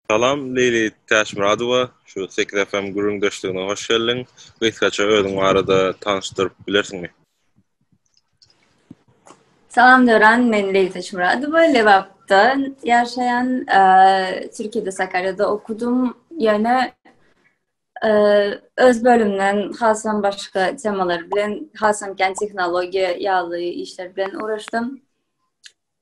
Salam Leýli Täçmyradowa şu Sekiz FM gürrüňdeşligine hoş geldiň. Gysgaça özüň barada tanyşdyryp bilersiňmi? Salam Döran, men Leýli Täçmyradowa, Lebapda ýaşaýan, Türkiýede Sakarýada okudym. Ýöne öz bölümden hasam başga temalar bilen, hasam kän tehnologiýa ýaly işler bilen ugraşdym.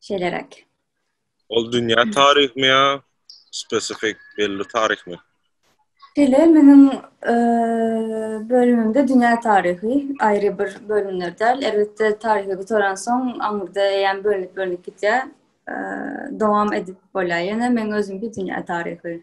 Şeýleräk. Ol dünýä taryhymy ýa spesifik belli taryhymy? Şeýle, meniň e, bölümimde dünýä taryhy aýry bir bölümler däl. Elbetde taryhy gutaran soň aňyrda eýýäm bölünip bölünip gitýär. E, dowam edip bolýar. Ýene men özümki dünýä taryhy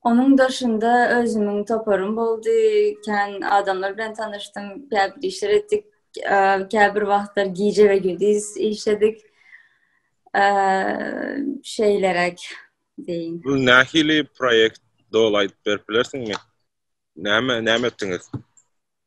Onuň daşynda özümiň toparym boldy, kän adamlar bilen tanyşdym, käbir işler etdik, käbir wagtlar gije we gündüz işledik. Şeýleräk diýin. Bu nähili proýekt doly aýdyp berip bilersiňmi? Näme näme etdiňiz?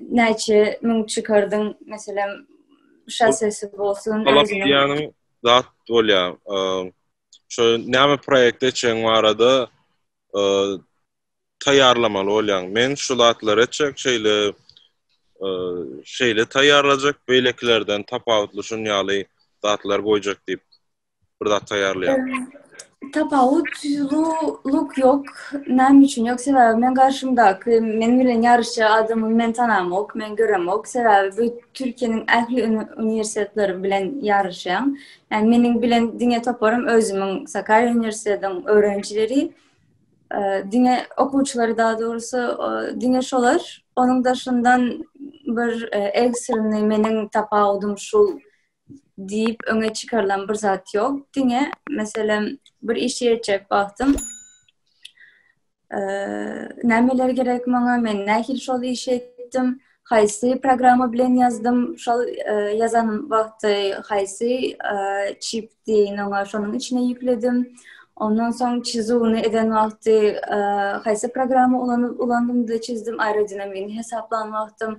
näçe müň çykardyň meselem şassesi bolsun ýanyň zat bolýa şo näme proýekt etjek barada taýýarlamaly bolýaň men şu zatlar etjek şeýle şeýle taýýarlajak beýlekilerden tapawutly şun ýaly zatlar goýjak diýip bir zat taýýarlaýan. Tapawut luk ýok. Näme üçin ýok? Sebäbi men garşymdaky men bilen ýaryşja adamy men tanamok, men göremok. Sebäbi bu Türkiýäniň ähli uniwersitetleri bilen ýaryşýan. Ýani meniň bilen diňe toparym özümiň Sakarýa uniwersitetiniň öwrenjileri. Diňe okuwçylary daha dogrusy diňe şolar. Onuň daşyndan bir ekstrany meniň tapawudym şu diýip öňe çykarylan bir zat ýok. Diňe meselem bir iş etjek wagtym nämeler gerek maňa, men nähili şol işi etdim, haýsy programma bilen ýazdym, şol ýazan wagty haýsy çipdi, oňa şonuň içine ýükledim. Ondan soň çizuwny eden wagty haýsy programma ulanyp ulandym-da çizdim, aerodinamigiň hesaplanan wagtym,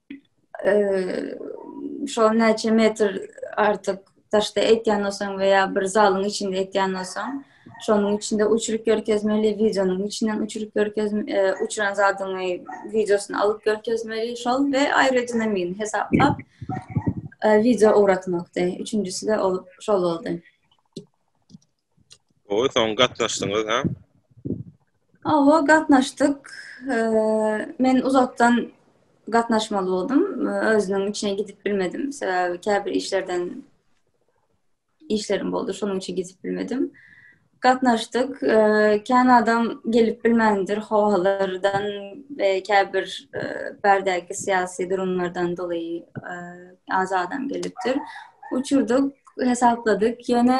şol näçe metr artyk daşda etýän bolsaň we ýa bir zalyň içinde etýän bolsaň, şonuň içinde uçuryp görkezmeli, wideonyň içinden uçuryp görkez, e, uçuran zadyňy wideosyny alyp görkezmeli, şol we aerodinamini hesaplap e, wideo ugratmakdy. Üçünjisi de ol şol boldy. Gowy, soň gatnaşdyňyz, hä? Hawa, gatnaşdyk. Men uzakdan gatnaşmaly boldum. Özüniň içine gidip bilmedim. Sebäbi käbir işlerden işlerim boldy, şonuň üçin gidip bilmedim. Gatnaşdyk. Kän adam gelip bilmändir, howalardan we käbir bärdäki syýasy durumlardan doly az adam gelipdir. Uçurdyk, hesapladyk. Ýöne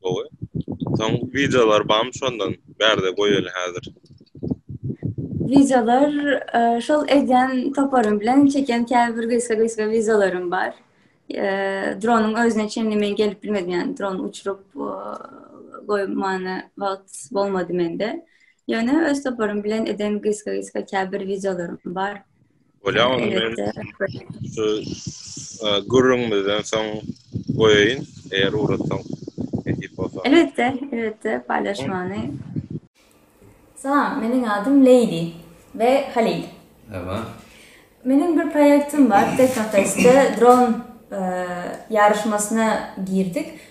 Gowy. Soň wideolar barmy şondan? Bärde goýaly häzir. Wideolar şol edýän toparym bilen çekýän käbir gysga-gysga wideolarym bar. Dronyň özüne çenli men gelip bilmedim, ýagny dron uçuryp goýmana wagt bolmady mende. Ýöne öz toparym bilen eden gysga-gysga käbir wideolarym bar. Bolýa ony men şu gürrüňimizden soň goýaýyn, eger ugratsaň nesip bolsa. Elbetde, elbetde paýlaşmany. Salam, meniň adym Leýli we Halil. Merhaba. Meniň bir proýektim bar, Teknofestde dron ýaryşmasyna girdik.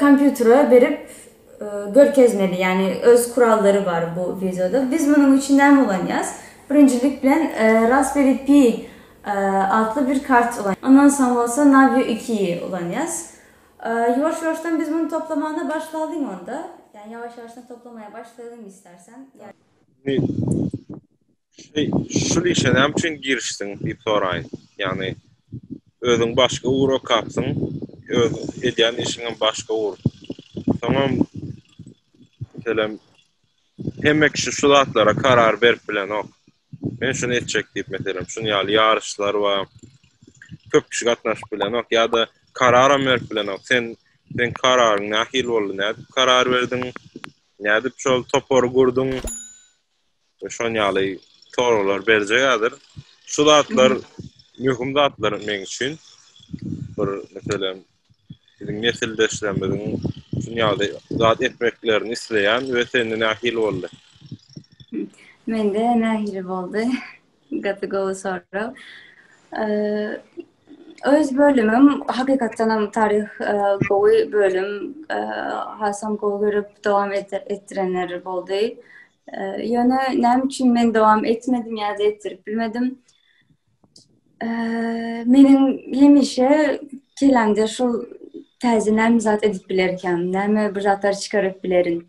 kompýutere berip görkezmeli ýagny öz kurallary bar bu wideoda biz munuň üçin näme ulanýas birinjilik bilen raspberry pi atly bir kart ulanýas ondan soň bolsa navio iki ýi ulanýas ýuwaş ýuwaşdan biz muny toplamagyna başlalyň onda ýawaş ýawaşdan toplamaga başlalyň istersen. Şul işe näme üçin girişdiň diýip soraýyn. Ýagny özüň başga ugur okapsyň, öz edýän işiňem başga ugur. Soňam meselem hemme kişi şu zatlara karar berip bilenok. Men şuny etjek diýip meselem şuny ýaly ýaryşlar we köp kişi gatnaşyp bilenok ýa-da kararam berip bilenok. Sen seň kararyň nähili boldy? Nädip karar berdiň? Nädip şol topary gurduň? we şon ýaly soraglar berjek häzir. Şu zatlar möhüm zatlar meň üçin. Bir meselem biziň nesildeşlerimiziň şun ýaly zat etmeklerini isleýän we sende nähili boldy? Mende nähili boldy? Gaty gowy sorag. Öz bölümim hakykatdan hem taryh e, gowy bölüm. E, hasam gowy görüp dowam etdirenler boldy. E, ýöne näme üçin men dowam etmedim ýa-da etdirip bilmedim? Meniň hemişe kelamda şu täze näme zat edip bilerkäm, näme bir zatlar çykaryp bilerin.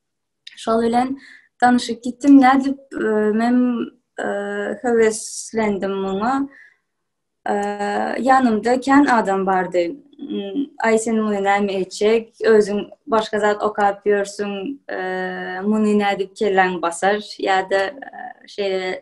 Şol bilen danışyp gitdim. Nädip e, men e, höweslendim muňa. E, ýanymda kän adam bardy. Hmm, Aý sen muny näme etjek? Özüň başga zat okap ýörsüň. Muny nädip kelläň basar? Ýa-da şeýle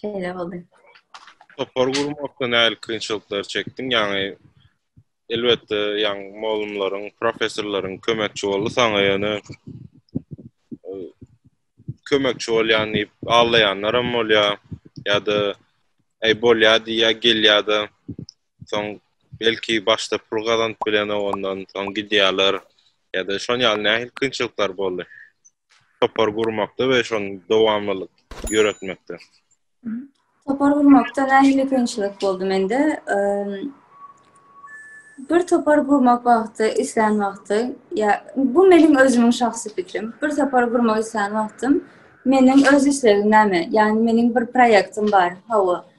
Şeýle boldy. Topar gurmakda nähili kynçylyklar çekdiň? Ýaňy elbetde ýaňy molumlaryň, professorlaryň kömekçi boldy saňa ýöne kömekçi bolýan diýip allaýanlar hem bolýar ýa-da aý bolýar diýýär gelýär-de Soň belki başda pul gazanyp bilenok ondan, soň gidýärler ýa-da şon ýaly nähili kynçylyklar boldy? Topar gurmakda we şony dowamlylyk ýöretmekde. Topar gurmakda nähili kynçylyk boldy mende? Bir topar gurmak wagty, islän wagty, ýa bu meniň özümiň şahsy pikrim. Bir topar gurmak islän wagtym, meniň öz islegim näme? Ýagny meniň bir proýektim bar. Hawa.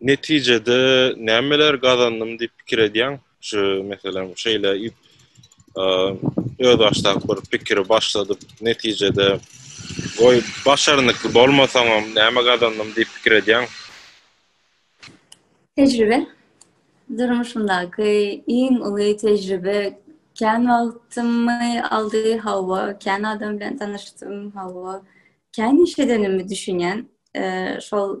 Netijede nämeler gazandym diýip pikir edýäň? Şu meselem şeýle ýüp öz başdaky bir pikiri başladyp, netijede goý başarnykly bolmasaňam näme gazandym diýip pikir edýäň? Tejribe. Durmuşymdaky iň uly tejribe kän wagtymy aldy, hawa, kän adam bilen tanyşdym, hawa, kän iş edenimi düşünýän. Şol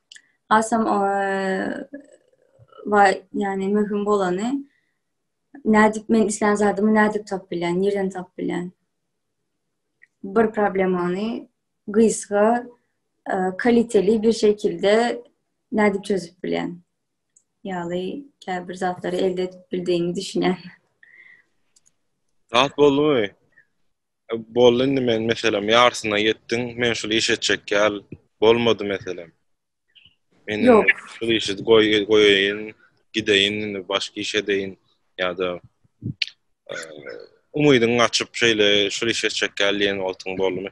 Asam o va yani mühim bolany nädip men islän zadymy nädip tap bilen, nirden tap bilen. Bir problemany gysga e, kaliteli bir şekilde nädip çözüp bilen. Ýaly käbir zatlary elde edip bildiğimi düşünen. Rahat boldumy? Boldy indi men meselem ýarsyna ýetdim, men şul iş etjek ýal bolmady meselem. Men Yok. şul işi goý goýaýyn, gideýin indi başga iş edeýin ýa-da e, umydyň açyp şeýle şul iş etjek ýal diýen wagtyň boldumy?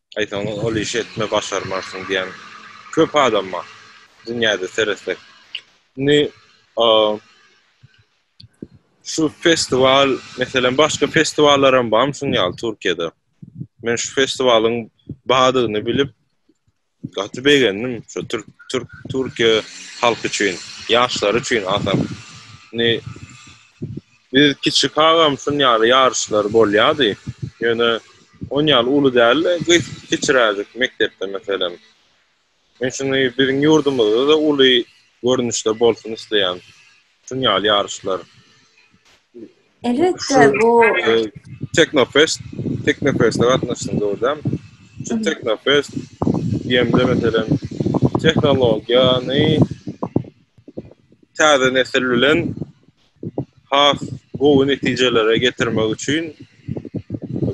Aýtsaň ol işi etme başarmarsyň diýen köp adam bar dünýäde seretsek. Indi şu festiwal meselem başga festiwallar hem barmy şuň ýaly Türkiýede? Men şu festiwalyň bardygyny bilip gaty begendim şu türk türk Türkiýe halky üçin, ýaşlary üçin atam. Indi Biz kiçi kagam şun ýaly ýaryşlar bolýady. Ýöne on ýaly uly däldi, gyz kiçiräjik mekdepde meselem. Men şuny biziň ýurdumyzda-da uly görnüşde bolsun isleýän. Şun ýaly ýaryşlar. Elbetde bu Teknofest, Teknofest-e gatnaşdyň dogry dämi? Şu Teknofest diýemde meselem tehnologiýany täze nesil bilen has gowy netijelere getirmek üçin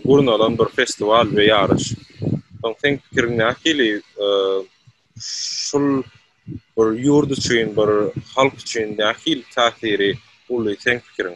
gurnalan bir festiwal we ýaryş. Soň seň pikiriň nähili? Şul bir ýurt üçin, bir halk üçin nähili täsiri uly seň pikiriň?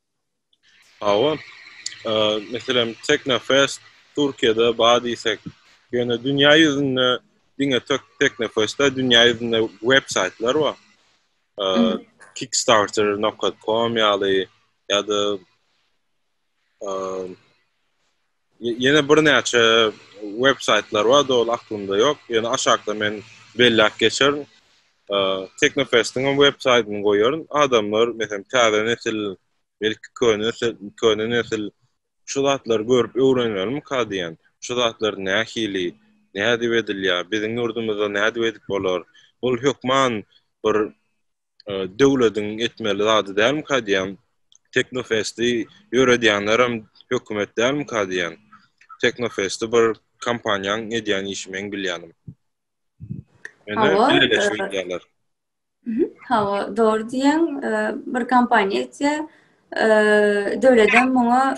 Hawa. Meselem, Teknofest Türkiýede bar diýsek, ýöne dünýä ýüzünde diňe Teknofest-de dünýä ýüzünde websaýtlar bar. Kickstarter nokta com ýaly ýa-da Ýene birnäçe web saýtlar bar, doly aklymda ýok. Ýöne aşakda men belläp geçerin. Teknofestiň hem web saýtyny goýaryn. Adamlar, meselem, täze nesil, belki köne nesil, köne nesil şu zatlary görüp öwrenmelikä diýen. Şu zatlar nähili, nädip edilýär, biziň ýurdumyzda nädip edip bolar? Ol hökman bir döwlediň etmeli zady dälmika diýýän. Teknofesti ýöredýänler hem hökümet dälmika diýýän. Teknofesti bir kompaniýaň edýän işi meň bilýänim. Ýöne birleşip edýärler. Hawa, dogry diýýäň. Bir kompaniýa etýär. Döwlet hem muňa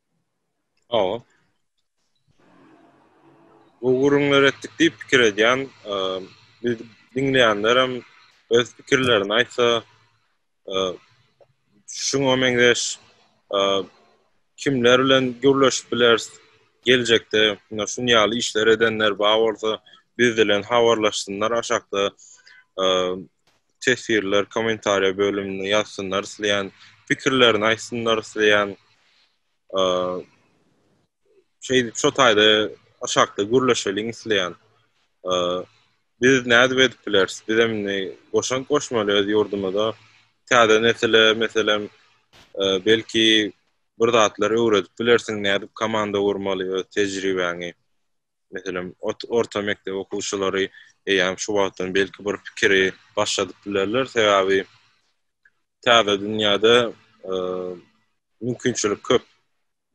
Hawa. Bu gürrüňler etdik diýip pikir edýän, biz diňleýänlerem öz pikirlerini aýtsa, şuňa meňzeş kimler bilen gürleşip bileris geljekde, ýa şun ýaly işler edenler bar bolsa biz bilen habarlaşsynlar aşakda. teswirler kommentariýa bölüminde ýazsynlar isleýän pikirlerini aýtsynlar isleýän şeýdip şo taýda aşakda gürleşeliň isleýän biz nädip edip bileris biz hem goşant goşmaly öz ýurdumyza täze nesile meselem belki bir zatlar öwredip bilersiň nädip komanda gurmaly öz tejribäňi meselem, orta mekdep okuwçylary eýýäm şu wagtdan belki bir pikiri başladyp bilerler, sebäbi täze dünýäde mümkinçilik köp.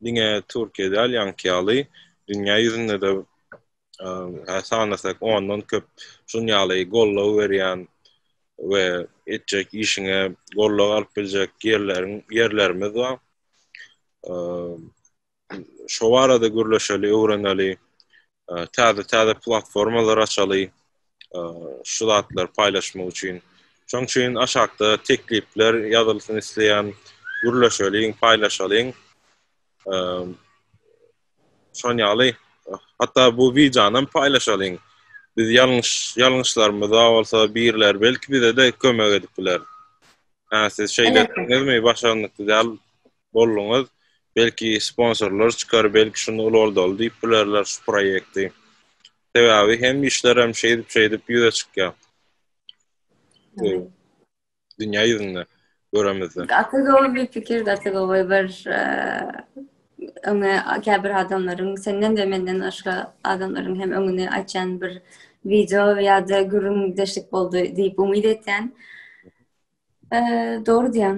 Diňe Türkiýe däl, ýaňky ýaly, dünýä ýüzünde-de sanasak ondan köp şun ýaly goldaw berýän we etjek işiňe goldaw alyp biljek ýerlerimiz bar. şo barada gürleşeli, öwreneli, täze-täze platformalar açaly, şu zatlar paýlaşmak üçin. Şoň üçin aşakda teklipler ýazylsyn isleýän, gürleşeliň, paýlaşalyň. Şon ýaly, hatda bu wideonam paýlaşalyň. Biz ýalňyş, ýalňyşlarymyza bolsa birler belki bize-de kömek edip biler. Hä, siz şeýle etdiňizmi, başarnykly däl bolduňyz. Belki sponsorlar çykar, belki şunda ulgaldal diýip bilerler şu proýekti. Sebäbi hem işlerem şeýdip-şeýdip ýüze çykýar. Dünýä ýüzünde göremizde. Gaty gowy bir pikir, gaty gowy bir öňe käbir adamlaryň senden we menden başga adamlaryň hem öňüni açan bir video ýa-da gürrüňdeşlik boldy diýip umyt etýän. Dogry diýýäň.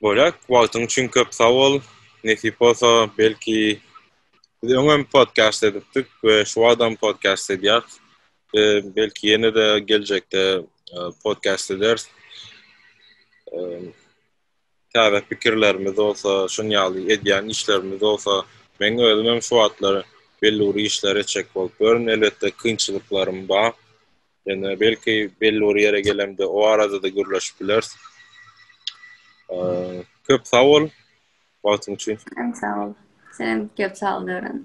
Bolýar. Wagtyň üçin köp sag bol. Nesip bolsa, belki biz öňem podkast edipdik we şu wagtam podkast edýäs. Belki ýene-de geljekde podkast ederis. Täze pikirlerimiz bolsa, şunuň ýaly edýän işlerimiz bolsa, meň özümem şu wagtlar belli bir işler etjek bolup ýörün. Elbetde, kynçylyklarym bar. Ýöne belki belli bir ýere gelemde o arada-da gürleşip bileris. Köp sag bol wagtyň üçin. Hem sag bol. Sen köp sag bol Döwran.